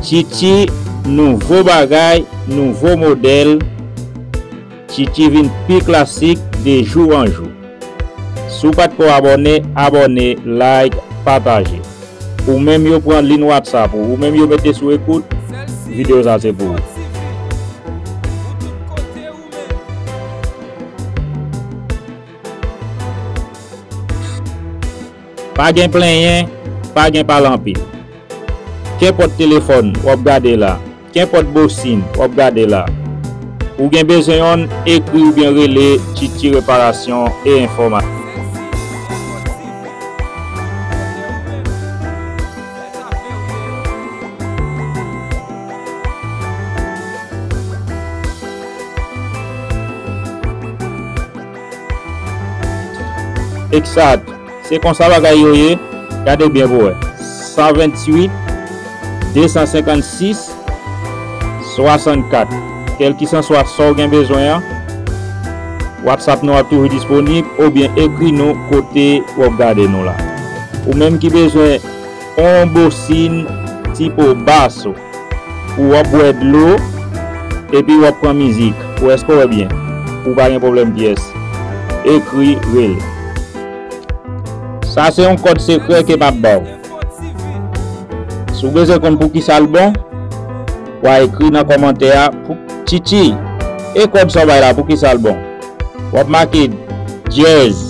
Chichi nouvo bagay nouvo modèl Chichi vin pi klasik de jou an jou Si w pat ko abòne abòne like pataje Ou menm yo pran lin whatsapp ou ou menm yo mete sou ekout video sa se pou ou. Pa gen plenyen, pa gen pale anpil. Kenpòt telefòn w ap gade la, kenpòt bosin w ap gade la, ou gen bezwen yonn, ekri oubyen rele Tchitchi Reparasyon e Enfòmatik. Exact se konsa bagay yo ye gade byen pou wè 128 256 64 kelkisanswa sa w gen bezwen an whatsapp nou ap toujou disponib oubyen ekri nou kote wap gade nou la ou menm ki bezwen On bosin ti po bass ou pou wap bwè dlo epi wap pran mizik ou eske w wè byen ou pa gen pwoblèm pyès ekri rele sa se yon kòd sekrè ke map baw si w bezwen konn poukisa l bon wa ekri nan kòmantè a tchitchi e kòd sa w bay la poukisa l bon wap make dyèz.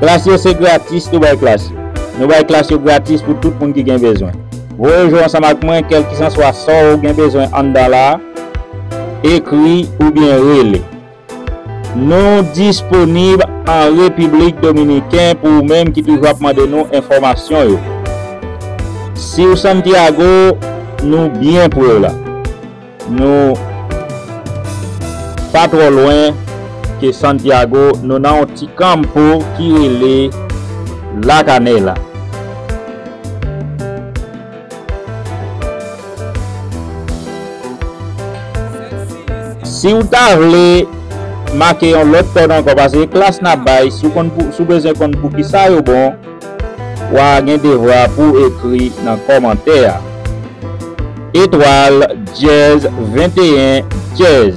Klas yo se gratis Nou bay klas yo Nou bay klas yo gratis pou tout moun ki gen bezwen Voye jwe ansanm ak mwen kèlkisanswa sa w gen bezwen anndan la a Ekri oubyen rele. Nou disponib an Repiblik Dominiken pou ou menm ki toujou ap mande nou enfòmasyon yo. Si w Santiago, nou byen pre w la. Nou pa twò lwen ke Santiago, nou nan yon ti kanmpo ki rele La Canela. Siw ta vle make yon lòt kòd ankò pase klas nap bay siw bezwen konn poukisa yo bon wa gen devwa pouw ekri nan kòmantè a etwal dyèz 21 dyèz.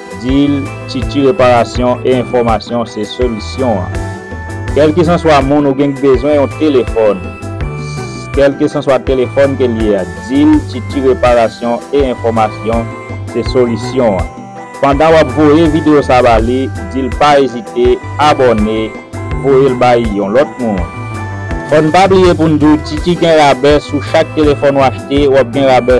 Dil, Titi reparasyon e enfòmasyon se solisyon an. Kèlkesanswa moun ou gen k bezwen yon telefòn S kèlkesanswa telefòn ke l ye a Dil, Titi reparasyon e enfòmasyon se solisyon an. Pandan w ap voye videyo sa ba li, di l pa ezite abòne voye l bay yon lòt moun. Fò n pa bliye pou n di w Titi gen rabè sou chak telefòn w achte w ap gen rabè